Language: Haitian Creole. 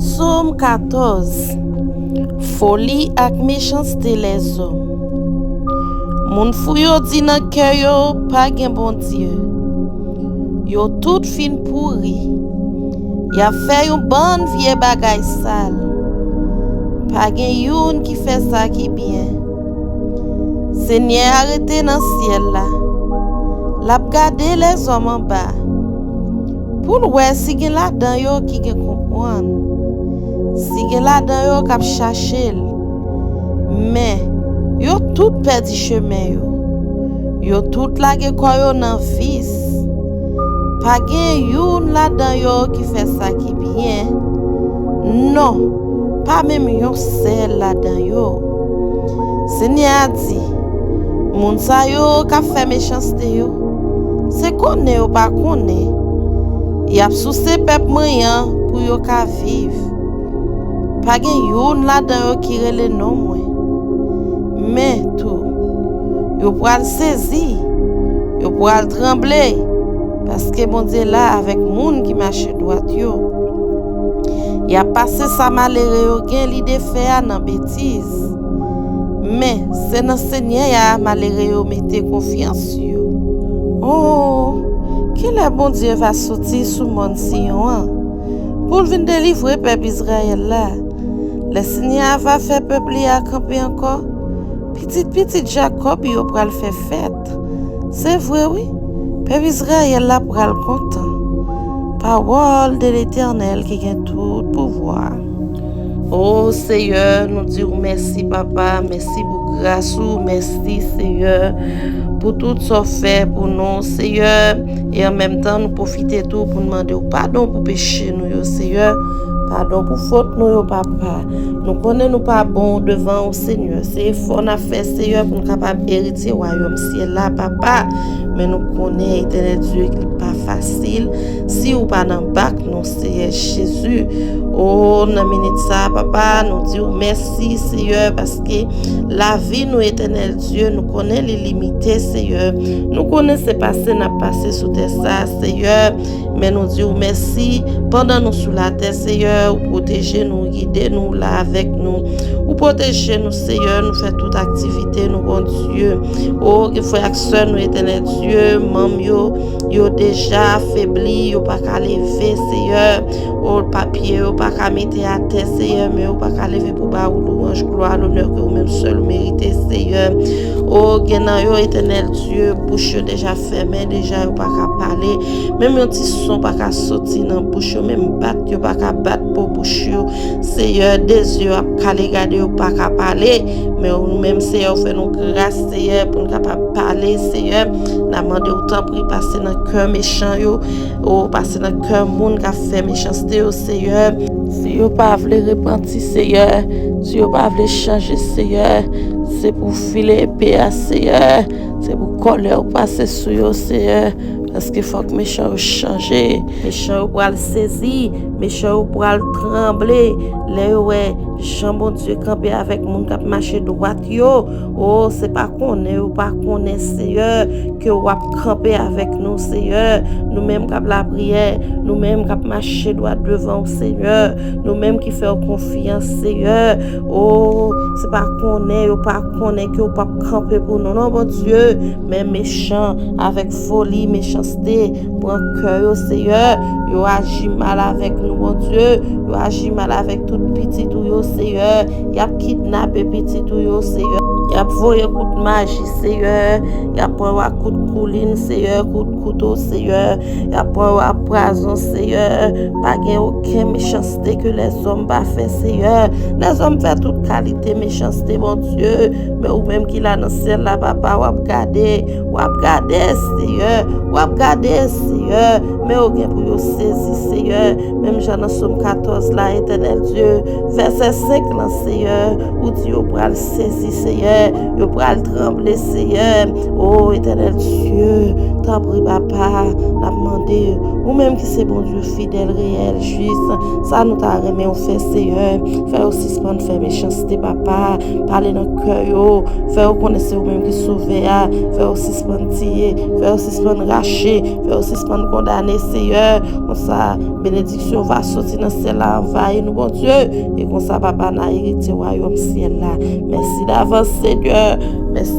Som 14 Foli ak mechanste lèzòm Moun fou yo di nan kè yo pa gen Bondye Yo tout fin pouri Y ap fè yon bann vye bagay sal Pa gen youn ki fè sa ki byen Senyè a rete nan syèl la L ap gade lèzòm anba Pou l wè si gen ladan yo ki gen konprann. Si gen ladan yo k ap chache l. Men, yo tout pèdi chemen yo. Yo tout lage kò yo nan vis. Pa gen youn ladan yo ki fè sa ki byen, non, pa menm yon sèl ladan yo. Senyè a di, Moun sa yo k ap fè mechanste yo. Se konnen yo pa konnen, y ap souse pèp mwen an pou yo ka viv. Pa gen youn ladan yo ki rele non mwen. Men, tou, yo pral sezi, yo pral tranble, paske Bondye la avèk moun ki mache dwat yo. Y ap pase sa malere yo gen lide fè a nan betiz. Men, se nan Senyè a malere yo mete konfyans yo. O, ki lè Bondye va soti sou mòn Siyon an, pou l vin delivre pèp Izrayèl la? Lè Senyè a va fè pèp li a kanpe ankò, pitit pitit Jakòb yo pral fè fèt. Se vre wi, pèp Izrayèl la pral kontan. Pawòl de Letènèl ki gen tout pouvwa. Oh seyè nou diw mèsi papa mèsi pou gras ou mèsi seyè pou tout sa w fè pou nou seyè e an menm tan nou pwofite tou pou nou mande w padon pou peche nou yo seyè padon pou fot nou yo papa nou konnen nou pa bon devan w seyè se efò n ap fè seyè pou nou kapab eritye wayòm syèl la papa men nou konnen etènèl Dye li pa fasil si w pa nan bak nou Seyè Jezi ooh nan minit sa papa nou diw mèsi Seyè paske lavi nou Etènèl Dye nou konnen li limite Seyè nou konnen se pase nap pase sou tè sa Seyè men nou diw mèsi pandan nou sou latè Seyè ou pwoteje nou ou gide nou ou la avèk nou ou pwoteje nou Seyè nou fè tout aktivite nou Bondye ooh gen frè ak sè nou Etènèl Dye manm yo. Yo deja afebli, yo pa ka leve, Seyè. O, pa pye yo pa ka mete atè, Seyè, men yo pa ka leve pou ba ou louwanj, glwa, lonè ke ou menm sèl ou merite, Seyè. O, gen nan yo, Etènèl Dye, bouch yo deja fèmen, deja yo pa ka pale, menm yon ti son pa ka soti nan bouch yo, menm bat yo pa ka bat po bouch yo, Seyè. De zye yo ap kale gade, yo pa ka pale, men ou menm, Seyè, ou fè nou gras, Seyè, pou nou kapab pale, Seyè. Na mande ou tanpri pase nan kè mechan yo, o pase nan kè moun kap fè mechanste yo Seyè. Si yo pa vle repanti Seyè, si yo pa vle chanje Seyè, se pou ou file epe a Seyè, se pou kòlè ou pase sou yo Seyè, paske fòk mechan yo chanje, mechan yo pral sezi, mechan yo pral tranble lè yo wè jan Bondye kanpe avèk moun kap mache dwat yo. Oh se pa konnen ou pa konnen seyè ke ou ap kanpe avèk nou seyè nou menm kap la priyè nou menm kap mache dwa devan ou seyè nou menm ki fè ou konfyan seyè oh se pa konnen ou pa konnen ke ou pap kanpe pou nou non bon Dieu men mechan avèk foli mechanste Pran kè yo seyè, yo aji mal avèk nou bondye, yo aji mal avèk tout pitit ou yo seyè, yap kidnape pitit ou yo seyè, yap voye kout maji seyè, yap pran yo ak kout koulin seyè, kout kouto seyè, yap pran yo ak prazon seyè, pa gen oken mechanste ke lèzòm pa fè seyè, lèzòm fè tout kalite mechanste bondye, Men ou menm ki la nan syèl la papa wap gade wap gade seyè wap gade seyè men yo gen pou yo sezi seyè menm jan nan som 14 la etènèl dye vèsè 5 lan seyè ou di yo pral sezi seyè yo pral tranble seyè o etènèl dye tanpri papa nap mande ou menm ki se bon dye fidèl reyèl jis sa nou ta renmen ou fè seyè fè yo sispann fè mechanste papa pale nan kè yo, fè yo konnen se ou menm ki sovè a, fè yo sispann tiye, fè yo sispann rache, fè yo sispann kondane Seyè, konsa benediksyon va soti nan syèl la anvayi nou Bondye, e konsa papa na eritye wayòm syèl la, mèsi davans Senyè, mèsi.